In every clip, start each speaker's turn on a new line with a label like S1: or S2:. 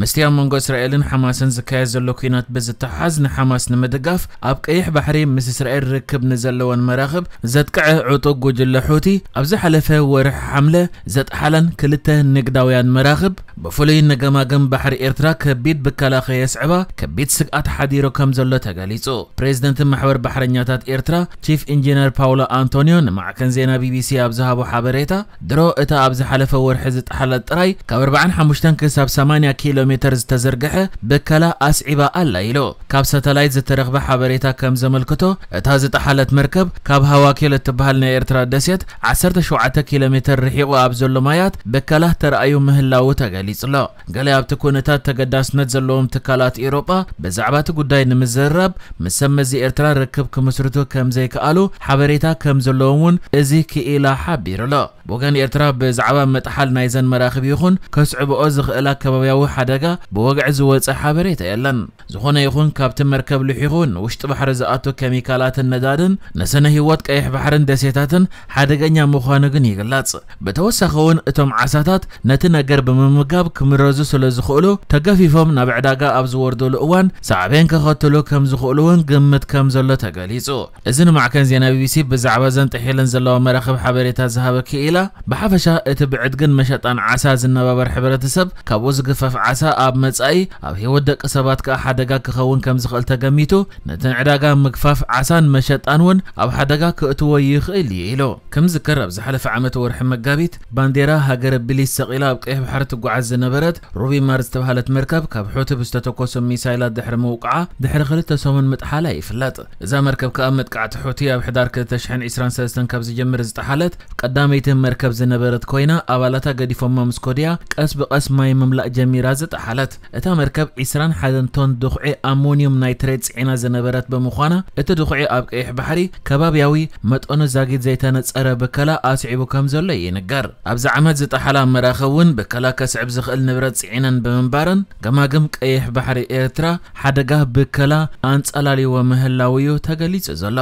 S1: ምስቲ ኣብ መንጎ እስራኤልን ሓማስን ዝካየድ ዘሎ ኲናት ብዝተሓሓዝ ንሓማስ ንምድጋፍ ኣብ ቀይሕ ባሕሪ ምስ እስራኤል ርክብ ንዘለወን መራኽብ ዘጥቅዐ ዕጡቕ ጉጅለ ሑቲ ኣብ ዝሓለፈ ወርሒ ሓምለ ዘጥሓለን ክልተ ንግዳውያን መራኽብ ብፍሉይ ንገማግም ባሕሪ ኤርትራ ከቢድ ብከላ ከየስዕባ ከቢድ ስግኣት ሓዲሩ ከም ዘሎ ተገሊጹ። ፕሬዚደንት ማሕበር ባሕረኛታት ኤርትራ ቺፍ ኢንጂነር ፓውሎ ኣንቶንዮ ንማዕከን ዜና ቢቢሲ ኣብ ዝሃቦ ሓበሬታ ድሮ እታ ኣብ ዝሓለፈ ወርሒ ዝጠሓለት ጥራይ ካብ ኣርብዓን ሓሙሽተን ክሳብ ሰማንያ ኪሎ ሜተር ዝተዘርግሐ ብከላ ኣስዒባ ኣላ ኢሉ። ካብ ሳተላይት ዝተረኽበ ሓበሬታ ከም ዘመልክቶ እታ ዝጠሓለት መርከብ ካብ ሃዋኪል እትበሃል ናይ ኤርትራ ደሴት ዓሰርተ ሸውዓተ ኪሎ ሜተር ርሒቑ ኣብ ዘሎ ማያት ብከላ ተራእዩ ምህላዉ ተገሊጹ'ሎ። ገለ ኣብቲ ኩነታት ተገዳስነት ዘለዎም ትካላት ኤውሮጳ ብዛዕባ እቲ ጉዳይ ንምዝርራብ ምስ ሰብ መዚ ኤርትራ ርክብ ክምስርቱ ከም ዘይከኣሉ ሓበሬታ ከም ዘለዎም እውን እዚ ክኢላ ሓቢሩ ኣሎ። ብወገን ኤርትራ ብዛዕባ ምጥሓል ናይዘን መራኽብ ይኹን ከስዕብኦ ዝኽእላ ከባብያዊ ሓደጋ ብወግዒ ዝወጸ ሓበሬታ የለን። ዝኾነ ይኹን ካብቲ መርከብ ልሒኹ ንውሽጢ ባሕሪ ዝኣቱ ኬሚካላትን ነዳድን ንስነ ህይወት ቀይሕ ባሕርን ደሴታትን ሓደገኛ ምዃኑ ግን ይግለጽ። ብተወሳኺ'ውን እቶም ዓሳታት ነቲ ነገር ብምምጋብ ክምረዙ ስለ ዝኽእሉ ተገፊፎም ናብ ዕዳጋ ኣብ ዝወርዱሉ እዋን ሳዕቤን ከኸትሉ ከም ዝኽእሉ'ውን ግምት ከም ዘሎ ተገሊጹ። እዚ ንማዕከን ዜና ቢቢሲ ብዛዕባ እዘን ጥሒለን ዘለዋ መራኽብ ሓበሬታ ዝሃበ ክኢላ፣ ብሓፈሻ እቲ ብዕድግን መሸጣን ዓሳ ዝነባበር ሕብረተሰብ፣ ካብኡ ዝግፈፍ ዓሳ ኣብ መጻኢ ኣብ ህይወት ደቂ ሰባት ከኣ ሓደጋ ክኸውን ከም ዝኽእል ተገሚቱ ነቲ ንዕዳጋ ምግፋፍ ዓሳን መሸጣን'ውን ኣብ ሓደጋ ክእትዎ ይኽእል እዩ ኢሉ። ክምዝከር ኣብ ዝሓለፈ ዓመት ወርሒ መጋቢት፣ ባንዴራ ሃገረ ብሊስ ሰቒላ ኣብ ቀይሕ ባሕሪ ትጓዓዝ ዝነበረት ሩቢ ማር ዝተባህለት መርከብ ካብ ሑቲ ብዝተተኮሱ ሚሳይላት ድሕሪ ምውቃዓ ድሕሪ ክልተ ሰሙን ምጥሓላ ይፍለጥ። እዛ መርከብ ከኣ መጥቃዕቲ ሑቲ ኣብ ሕዳር ክልተ ሽሕን ዒስራን ሰለስተን ካብ ዝጀምር ዝጠሓለት ቀዳመይቲ መርከብ ዝነበረት ኮይና ኣባላታ ገዲፎማ ምስ ኮድያ ቀስ ብቀስ ማይ ምምላእ ጀሚራ ዝጠሓለት እታ መርከብ ዒስራን ሓደን ቶን ድኹዒ ኣሞንዩም ናይትሬት ጽዒና ዝነበረት ብምዃና እቲ ድኹዒ ኣብ ቀይሕ ባሕሪ ከባብያዊ መጠኑ ዛጊት ዘይተነጸረ ብከላ ኣስዒቡ ከምዘሎ ይንገር። ኣብዚ ዓመት ዝጠሓላ መራኽብ ውን ብከላ ከስዕብ ዝኽእል ንብረት ጽዒነን ብምንባረን ገማግም ቀይሕ ባሕሪ ኤርትራ ሓደጋ ብከላ ኣንጸላልይዎ ምህላዉ'ዩ ተገሊጹ ዘሎ።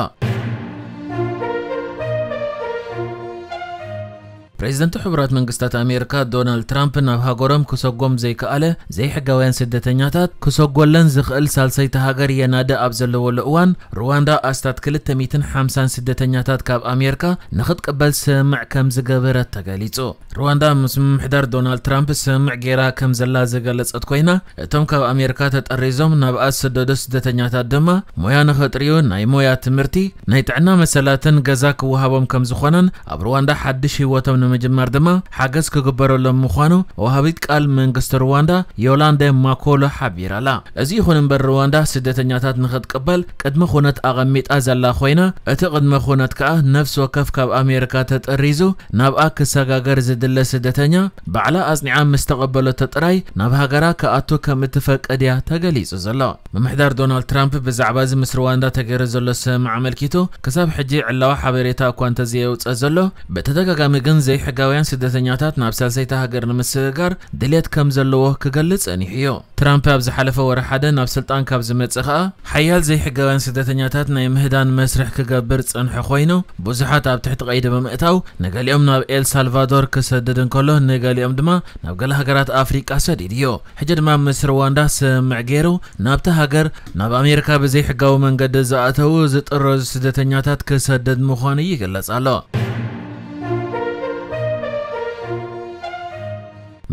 S1: ፕሬዝደንት ሕቡራት መንግስታት ኣሜርካ ዶናልድ ትራምፕ ናብ ሃገሮም ክሰጎም ዘይከኣለ ዘይሕጋውያን ስደተኛታት ክሰጎለን ዝኽእል ሳልሰይቲ ሃገር የናዲ ኣብ ዘለዎሉ እዋን ሩዋንዳ ኣስታት ክልተ ሚእትን ሓምሳን ስደተኛታት ካብ ኣሜርካ ንኽትቅበል ስምምዕ ከምዝገበረት ተገሊጹ። ሩዋንዳ ምስ ምምሕዳር ዶናልድ ትራምፕ ስምምዕ ገይራ ከም ዘላ ዝገለጸት ኮይና እቶም ካብ ኣሜሪካ ተጠሪዞም ናብኣ ዝስደዱ ስደተኛታት ድማ ሞያ ንኸጥርዩ ናይ ሞያ ትምህርቲ፣ ናይ ጥዕና መሰላትን ገዛ ክወሃቦም ከም ዝኾነን ኣብ ሩዋንዳ ሓድሽ ህይወቶም ንምጅማር ድማ ሓገዝ ክግበረሎም ምዃኑ ወሃቢት ቃል መንግስቲ ሩዋንዳ ዮላንደ ማኮሎ ሓቢራ'ላ። እዚ ይኹን እምበር ሩዋንዳ ስደተኛታት ንኽትቅበል ቅድመ ኩነት ኣቐሚጣ ዘላ ኮይና እቲ ቅድመ ኩነት ከኣ ነፍሲ ወከፍ ካብ ኣሜሪካ ተጠሪዙ ናብኣ ክሰጋገር ዝድለ ስደተኛ፣ ባዕላ ኣጽኒዓ ምስ ተቐበለቶ ጥራይ ናብ ሃገራ ክኣቱ ከም እትፈቅድ እያ ተገሊጹ ዘሎ። ምምሕዳር ዶናልድ ትራምፕ ብዛዕባ'ዚ ምስ ርዋንዳ ተገይሩ ዘሎ ስምምዕ ኣመልኪቱ ክሳብ ሕጂ ዕላዊ ሓበሬታ እኳ እንተዘየውጽእ ዘሎ፣ ብተደጋጋሚ ግን ዘይሕጋውያን ስደተኛታት ናብ ሳልሰይቲ ሃገር ንምስግጋር ድልየት ከም ዘለዎ ክገልጽ ጸኒሑ'ዩ። ትራምፐ ኣብ ዝሓለፈ ወርሒ ሓደ ናብ ስልጣን ካብ ዝመጽእ ከኣ ሓያል ዘይሕጋውያን ስደተኛታት ናይ ምህዳን መስርሕ ክገብር ዝጸንሐ ኮይኑ ብዙሓት ኣብ ትሕቲ ቀይዲ ብምእታው ንገሊኦም ናብ ኤል ሳልቫዶር ክሰድድ እንከሎ ንገሊኦም ድማ ናብ ገለ ሃገራት ኣፍሪቃ ሰዲዱዮ ሕጂ ድማ ምስ ርዋንዳ ስምምዕ ገይሩ ናብታ ሃገር ናብ ኣሜሪካ ብዘይሕጋዊ መንገዲ ዝኣተዉ ዝጥረዙ ስደተኛታት ክሰድድ ምዃኑ ይግለጽ ኣሎ።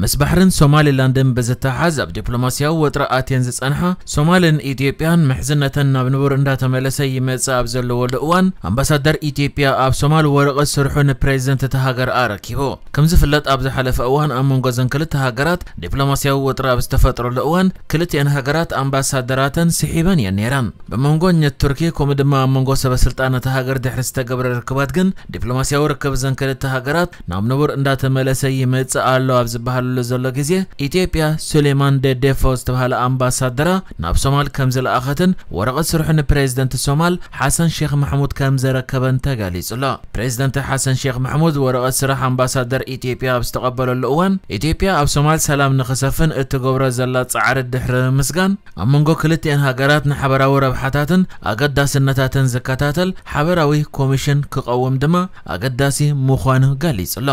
S1: ምስ ባሕርን ሶማሊላንድን ብዝተሓሓዝ ኣብ ዲፕሎማሲያዊ ወጥሪ ኣትየን ዝጸንሓ ሶማልን ኢትዮጵያን ምሕዝነተን ናብ ንቡር እንዳተመለሰ ይመጽእ ኣብ ዘለወሉ እዋን ኣምባሳደር ኢትዮጵያ ኣብ ሶማል ወረቐት ስርሑ ንፕሬዚደንት እታ ሃገር ኣረኪቡ። ከምዝፍለጥ ኣብ ዝሓለፈ እዋን ኣብ መንጎ እዘን ክልተ ሃገራት ዲፕሎማሲያዊ ወጥሪ ኣብ ዝተፈጥረሉ እዋን ክልቲኤን ሃገራት ኣምባሳደራተን ስሒበን እየን ነይረን። ብመንጎኘት ቱርኪ ከምኡ ድማ ኣብ መንጎ ሰበስልጣን እታ ሃገር ድሕሪ ዝተገብረ ርክባት ግን ዲፕሎማሲያዊ ርክብ እዘን ክልተ ሃገራት ናብ ንቡር እንዳተመለሰ ይመጽእ ኣሎ ኣብ ዝበሃለሉ ዘሎ ግዜ፣ ኢትዮጵያ ሱሌማን ደዴፎ ዝተብሃለ ኣምባሳደራ ናብ ሶማል ከም ዝለኣኸትን ወረቐት ስርሑ ንፕሬዝደንት ሶማል ሓሰን ሼኽ ማሕሙድ ከም ዘረከበን ተገሊጹ'ሎ። ፕሬዝደንት ሓሰን ሼኽ ማሕሙድ ወረቐት ስራሕ ኣምባሳደር ኢትዮጵያ ኣብ ዝተቐበለሉ እዋን፣ ኢትዮጵያ ኣብ ሶማል ሰላም ንኽሰፍን እትገብሮ ዘላ ጻዕሪ ድሕሪ ምምስጋን፣ ኣብ መንጎ ክልቲኤን ሃገራት ንሓበራዊ ረብሓታትን ኣገዳስነታትን ዝከታተል ሓበራዊ ኮሚሽን ክቐውም ድማ ኣገዳሲ ምዃኑ ገሊጹ'ሎ።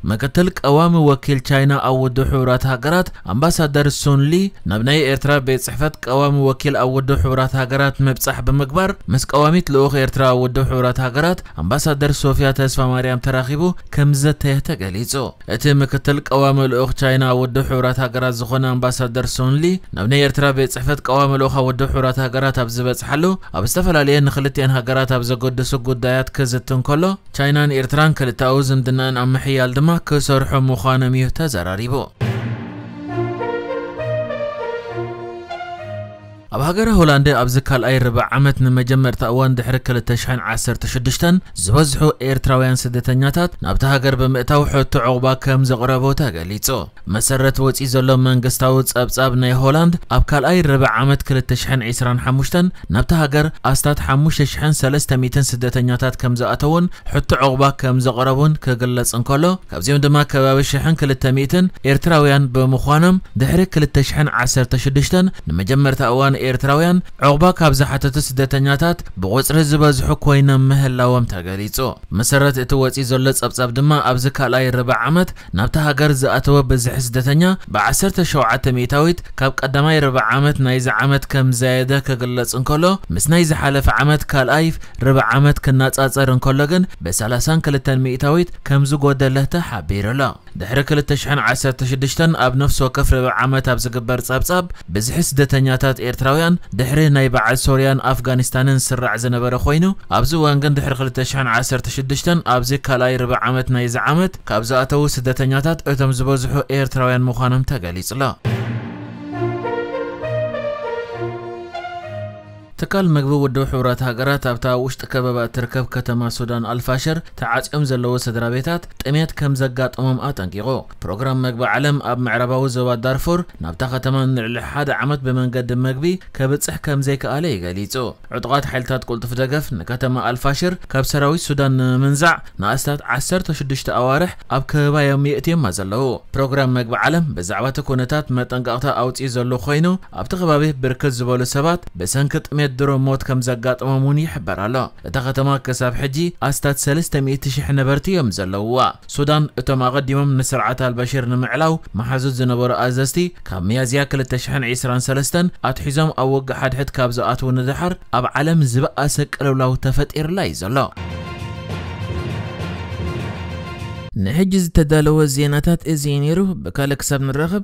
S1: ምክትል ቀዋሚ ወኪል ቻይና ኣብ ውድብ ሕቡራት ሃገራት ኣምባሳደር ሱን ሊ ናብ ናይ ኤርትራ ቤት ጽሕፈት ቀዋሚ ወኪል ኣብ ውድብ ሕቡራት ሃገራት ምብጻሕ ብምግባር ምስ ቀዋሚት ልኡኽ ኤርትራ ኣብ ውድብ ሕቡራት ሃገራት ኣምባሳደር ሶፍያ ተስፋማርያም ተራኺቡ ከምዝዘተየ ተገሊጹ። እቲ ምክትል ቀዋሚ ልኡኽ ቻይና ኣብ ውድብ ሕቡራት ሃገራት ዝኾነ ኣምባሳደር ሱን ሊ ናብ ናይ ኤርትራ ቤት ጽሕፈት ቀዋሚ ልኡኽ ኣብ ውድብ ሕቡራት ሃገራት ኣብ ዝበጽሓሉ ኣብ ዝተፈላለየ ንክልቲኤን ሃገራት ኣብ ዘገድሱ ጉዳያት ክዝቲ እንከሎ ቻይናን ኤርትራን ክልተኣዊ ዝምድናኣን ኣብ ምሕያል ድማ ክሰርሑ ምዃኖም እዩ ተዘራሪቡ። ኣብ ሃገረ ሆላንድ ኣብዚ ካልኣይ ርብዕ ዓመት ንመጀመርታ እዋን ድሕሪ ክልተ ሽሕን ዓሰርተ ሽዱሽተን ዝበዝሑ ኤርትራውያን ስደተኛታት ናብታ ሃገር ብምእታው ሕቶ ዑቕባ ከም ዘቕረቡ ተገሊጹ። ብመሰረት ወጺኡ ዘሎ መንግስታዊ ጸብጻብ ናይ ሆላንድ ኣብ ካልኣይ ርብዕ ዓመት ክልተ ሽሕን ዕስራን ሓሙሽተን ናብታ ሃገር ኣስታት ሓሙሽተ ሽሕን ሰለስተ ሚእትን ስደተኛታት ከም ዝኣተዉን ሕቶ ዑቕባ ከም ዘቕረቡን ክግለጽ እንከሎ ካብዚኦም ድማ ከባቢ ሽሕን ክልተ ሚእትን ኤርትራውያን ብምዃኖም ድሕሪ ክልተ ሽሕን ዓሰርተ ሽዱሽተን ንመጀመርታ እዋን ኤርትራውያን ዑቕባ ካብ ዝሓተቱ ስደተኛታት ብቑጽሪ ዝበዝሑ ኮይኖም ምህላዎም ተገሊጹ። ብመሰረት እቲ ወጺኡ ዘሎ ጸብጻብ ድማ ኣብዚ ካልኣይ ርብዕ ዓመት ናብታ ሃገር ዝኣተወ ብዝሒ ስደተኛ ብዓሰርተ ሸውዓተ ሚእታዊት ካብ ቀዳማይ ርብዕ ዓመት ናይዚ ዓመት ከምዝዛየደ ክግለጽ እንከሎ ምስ ናይ ዝሓለፈ ዓመት ካልኣይ ርብዕ ዓመት ክነጻጸር እንከሎ ግን ብሰላሳን ክልተን ሚእታዊት ከምዝጎደለተ ሓቢሩ'ሎ። ድሕሪ ክልተ ሽሕን ዓሰርተ ሽዱሽተን ኣብ ነፍሲ ወከፍ ርብዒ ዓመት ኣብ ዝግበር ጸብጻብ ብዝሒ ስደተኛታት ኤርትራውያን ድሕሪ ናይ በዓል ሶርያን ኣፍጋኒስታንን ዝስራዕ ዝነበረ ኮይኑ ኣብዚ እዋን ግን ድሕሪ ክልተ ሽሕን ዓሰርተ ሽዱሽተን ኣብዚ ካልኣይ ርብዒ ዓመት ናይዚ ዓመት ካብ ዝኣተዉ ስደተኛታት እቶም ዝበዝሑ ኤርትራውያን ምዃኖም ተገሊጹ'ሎ። ትካል መግቢ ውድብ ሕቡራት ሃገራት ኣብታ ኣብ ውሽጢ ከበባ እትርከብ ከተማ ሱዳን ኣልፋሸር ተዓጽዮም ዘለዉ ስድራቤታት ጥምየት ከም ዘጋጠሞም ኣጠንቂቑ። ፕሮግራም መግቢ ዓለም ኣብ ምዕራባዊ ዞባ ዳርፉር ናብታ ከተማ ንልዕሊ ሓደ ዓመት ብመንገዲ መግቢ ከብጽሕ ከም ዘይከኣለ እዩ ገሊጹ። ዕጡቓት ሓይልታት ቅልጡፍ ደገፍ ንከተማ ኣልፋሽር ካብ ሰራዊት ሱዳን ንምምንዛዕ ንኣስታት ዓሰርተ ሽዱሽተ ኣዋርሕ ኣብ ከበባ እዮም የእትዮማ ዘለዉ። ፕሮግራም መግቢ ዓለም ብዛዕባ'ቲ ኩነታት መጠንቀቕታ ኣውጺኡ ዘሎ ኮይኑ፣ ኣብቲ ከባቢ ብርክት ዝበሉ ሰባት ብሰንኪ ጥሜት ድሮ ሞት ከም ዘጋጠሞም እውን ይሕበር ኣሎ። እታ ከተማ ክሳብ ሕጂ ኣስታት ሰለስተ ሚእቲ ሽሕ ነበርቲ እዮም ዘለዉዋ። ሱዳን እቶም ኣቐዲሞም ንስርዓት ኣልበሽር ንምዕላው መሓዙት ዝነበሩ ኣዘዝቲ ካብ ሚያዝያ ክልተ ሽሕን ዕስራን ሰለስተን ኣትሒዞም ኣብ ውግእ ሓድሕድ ካብ ዝኣትዉ ንደሓር ኣብ ዓለም ዝበኣሰ ቅልውላው ተፈጢሩላ እዩ ዘሎ። ንሕጂ ዝተዳለወ ዜናታት እዚ እዩ ነይሩ። ብካልእ ክሳብ ንራኸብ